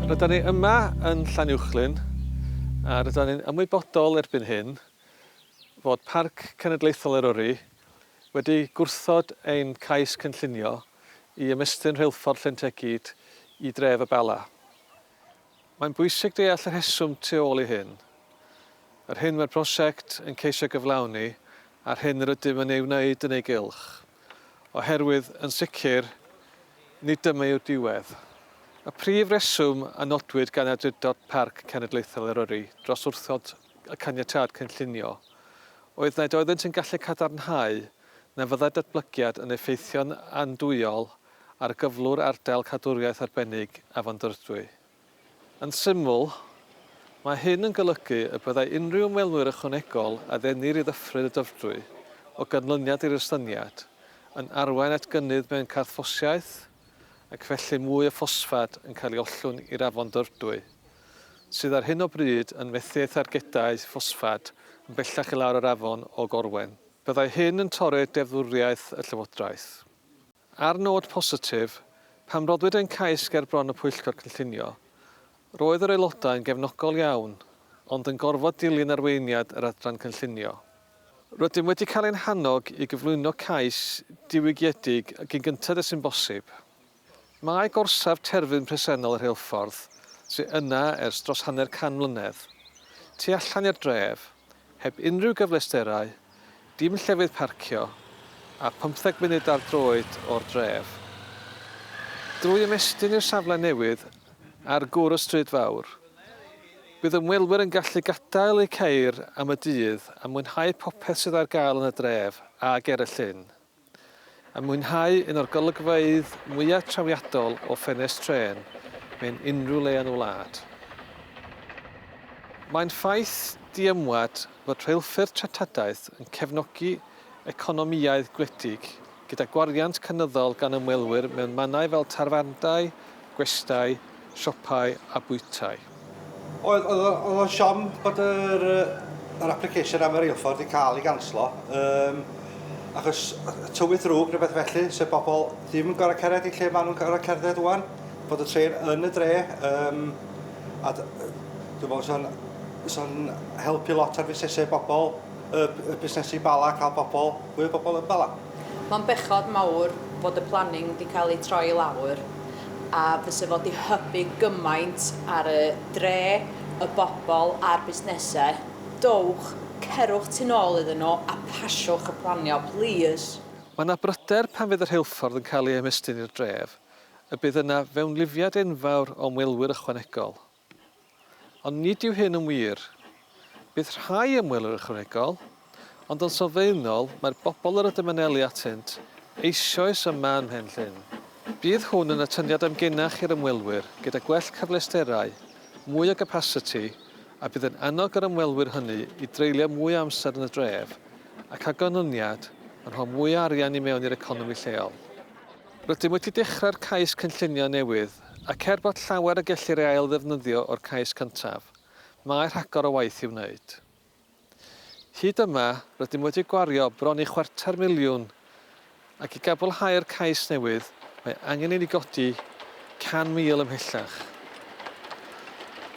Rydan ni yma yn Llanuwchllyn a rydan ni'n ymwybodol erbyn hyn fod Parc Cenedlaethol Eryri wedi gwrthod ein cais cynllunio i ymestyn rheilffordd Llyn Tegid i dref y Bala. Mae'n bwysig deall y rheswm tu ôl i hyn, yr hyn mae'r prosiect yn ceisio gyflawni a'r hyn yr ydym yn ei wneud yn ei gylch, oherwydd, yn sicr, nid dyma yw'r diwedd. Y prif reswm a nodwyd gan Awdurdod Parc Cenedlaethol Eryri dros wrthod y caniatâd cynllunio oedd nad oeddynt yn gallu cadarnhau na fyddai'r datblygiad yn effeithio'n andwyol Argyflwr Ardal Cadwriaeth Arbennig Afon Dyfrdwy. Yn syml, mae hyn yn golygu y byddai unrhyw ymwelwyr ychwanegol a ddennir i Ddyffryn y Dyfrdwy o ganlyniad i'r estyniad, yn arwain at gynnydd mewn carthffosiaeth ac felly mwy o ffosffad yn cael ei ollwng i'r Afon Dyfrdwy, sydd ar hyn o bryd yn methu ei thargedau ffosffad yn bellach i lawr yr afon o Gorwen. Byddai hyn yn torri'r deddfwriaeth y Llywodraeth. Ar nod positif, pan roddwyd ein cais ger bron y Pwyllgor Cynllunio, roedd yr Aelodau yn gefnogol iawn, ond yn gorfod dilyn arweiniad yr Adran Cynllunio. Rydym wedi cael ein hannog i gyflwyno cais diwygiedig y cyn gynted â sy'n bosib. Mae gorsaf terfyn presennol y rheilffordd, sydd yna ers dros hanner can mlynedd, tu allan i'r dref, heb unrhyw gyfleusterau, Dim llefydd parcio, a phymtheg munud ar droed o'r dref. Drwy ymestyn i'r safle newydd ar gwr y stryd fawr, bydd ymwelwyr yn gallu gadael eu ceir am y dydd a mwynhau popeth sydd ar gael yn y dref a ger y llyn. A mwynhau un o'r golygfeydd mwya' trawiadol o ffenest trên mewn unrhyw le yn y wlad. Mae'n ffaith diymwad fod rheilffyrdd treftadaeth yn cefnogi economïau gwledig gyda gwariant cynyddol gan ymwelwyr mewn mannau fel tafarndai, gwestai, siopau a bwytai. Oedd, oedd, oedd o'n siom bod yr, yr application am y reilffordd wedi cael ei ganslo, um, achos tywydd ddrwg neu beth felly, sef bobl ddim yn gorau cered i lle maen nhw'n gorau cerdded wwan, bod y tren yn y dre, um, a dwi'n meddwl sy'n so helpu lot ar fusnesau bobl, y, y busnesu bala, cael bobl, fwy o bobl yn bala. Mae'n bechod mawr fod y planning 'di cael ei troi i lawr a fyse fo 'di hybu gymaint ar y dre, y bobl a'r busnesau. Dowch, cerwch tu nôl iddyn nhw a pasiwch y planio, plîs. Mae 'na bryder pan fydd y rheilffordd yn cael ei ymestyn i'r dref, y bydd yna fewnlifiad enfawr o ymwelwyr ychwanegol. Ond nid yw hyn yn wir. Bydd rhai ymwelwyr ychwanegol, ond yn sylfaenol mae'r bobl yr ydym yn eli atynt eisoes yma ym Mhen Llŷn. Bydd hwn yn atyniad amgenach i'r ymwelwyr gyda gwell cyfleusterau, mwy o gapasiti a bydd yn annog yr ymwelwyr hynny i dreulio mwy o amser yn y dref ac â ganlyniad yn rho mwy o arian i mewn i'r economi lleol. Rydym wedi dechrau'r cais cynllunio newydd Ac er bod llawer y gellir ei ail-ddefnyddio o'r cais cyntaf, mae rhagor o waith i'w wneud. Hyd yma, rydym wedi gwario bron i chwarter miliwn ac i gabolhau'r cais newydd mae angen i ni godi 100,000 ymhellach.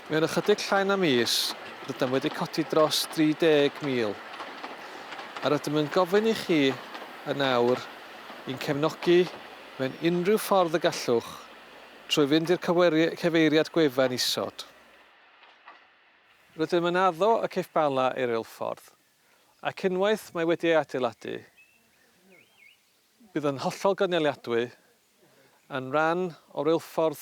Mewn ychydig llai na mis, rydym wedi codi dros 30,000, a rydym yn gofyn i chi yn awr i'n cefnogi Mewn unrhyw ffordd y gallwch, trwy fynd i'r cyfeiriad gwefan isod. Rydym yn addo y ceiff Bala ei reilffordd, ac unwaith mae wedi ei adeiladu, bydd yn hollol gynaliadwy yn rhan o reilffordd